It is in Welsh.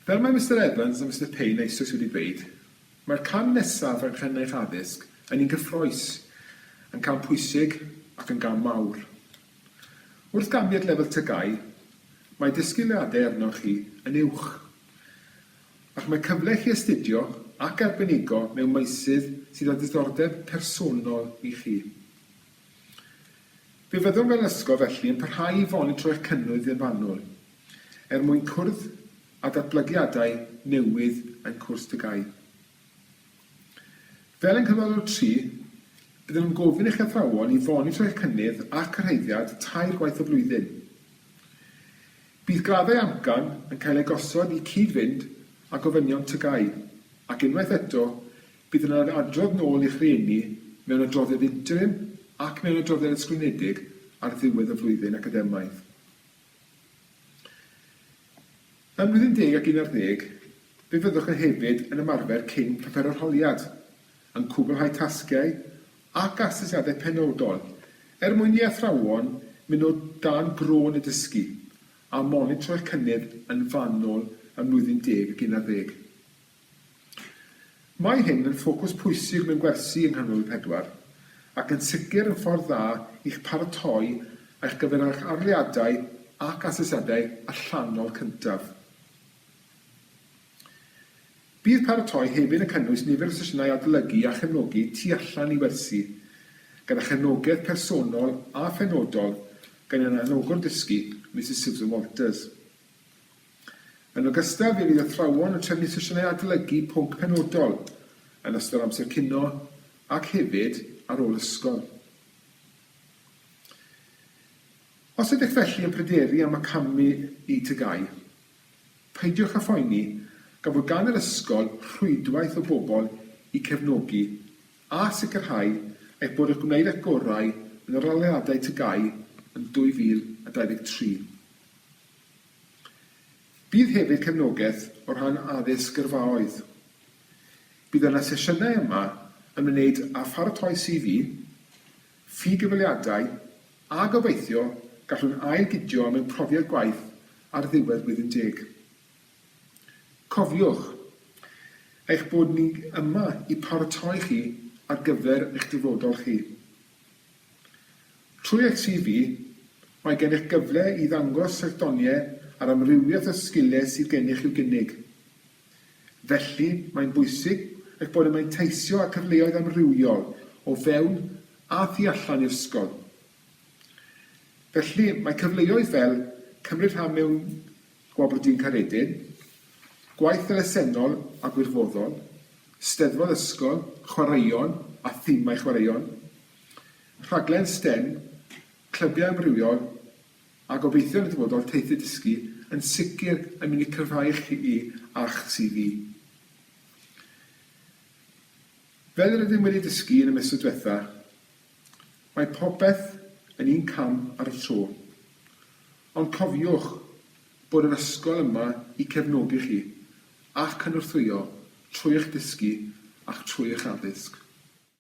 Fel mae Mister Evans a Mister Payne eisoes wedi dweud, mae'r cam nesaf yng nghenyrch addysg yn un gyffrous, yn cam pwysig ac yn gam mawr. Wrth ganfyd lefel TGAU, mae disgwyliadau arnoch chi yn uwch, ac mae cyfle i chi astudio ac arbenigo mewn meysydd sydd â diddordeb personol i chi. Fe fyddwn fel ysgol felly yn parhau i fonitro'r cynnydd yn fanwl er mwyn cwrdd â datblygiadau newydd ein cwrs TGAU. Fel yng Nghyflogwr tri, byddwn yn gofyn i'ch athrawon i fonitro eich cynnydd a chyrhaeddiad tair gwaith y flwyddyn. Bydd graddau amcan yn cael eu gosod i cyd-fynd â gofynion TGAU, ac unwaith eto, Bydd yna adrodd nôl i'ch rhieni mewn adroddiad interim ac mewn adroddiad ysgrifenedig ar ddiwedd y flwyddyn academaidd. Ym mlwyddyn deg ac un ar ddeg, fe fyddwch yn hefyd yn ymarfer cyn profer arholiad, yn cwblhau tasgiau ac asesiadau penodol er mwyn i athrawon mynd o dan grôn y dysgu a monitro eich cynnydd yn fanwl ym mlwyddyn deg ac un ar ddeg. Mae hyn yn ffocws pwysig mewn gwersi yng Nghanol y Pedwar, ac yn sicr yn ffordd dda i'ch paratoi ar gyfer eich arholiadau ac asesiadau allanol cyntaf. Bydd paratoi hefyd yn cynnwys nifer o sesiynau adolygu a chefnogi tu allan i wersi, gyda chefnogaeth personol a phenodol gan ein Anogwr Dysgu, Misus Susan Walters. Yn ogystal, fe fydd athrawon yn trefnu sesiynau adolygu pwnc penodol yn ystod amser cinio ac hefyd ar ôl ysgol. Os ydych felly yn pryderu am y camu i TGAU, peidiwch â phoeni gan fod gan yr ysgol rhwydwaith o bobl i cefnogi a sicrhau eich bod ych gwneud eich gorau yn yr arholiadau TGAU yn 2023. Bydd hefyd cefnogaeth o ran addysg gyrfaoedd. Bydd yna sesiynau yma ymwneud â pharatoi CV, ffi-gyfweliadau a gobeithio gallwn ail-gydio mewn profiad gwaith ar ddiwedd blwyddyn deg. Cofiwch eich bod ni yma i paratoi chi ar gyfer eich dyfodol chi. Trwy eich CV, mae gennych gyfle i ddangos eich doniau a'r amrywiaeth o sgiliau sydd gennych i'w gynnig. Felly, mae'n bwysig eich bod yn manteisio ar cyfleoedd amrywiol o fewn a thu allan i ysgol. Felly, mae cyfleoedd fel cymryd rhan mewn Gwablodyn Caeredin, gwaith elusennol a gwirfoddol, steddfod ysgol, chwaraeon a thimau chwaraeon, rhaglen stem, clybiau amrywiol, a gobeithio yn y dyfodol teithiau dysgu, yn sicr yn mynd i cryfhau chi a'ch CV. Fel yr ydym wedi dysgu yn y misoedd diwetha', mae popeth yn un cam ar y tro. Ond cofiwch bod yr ysgol yma i cefnogi chi a chynorthwyo trwy eich dysgu ac trwy eich addysg.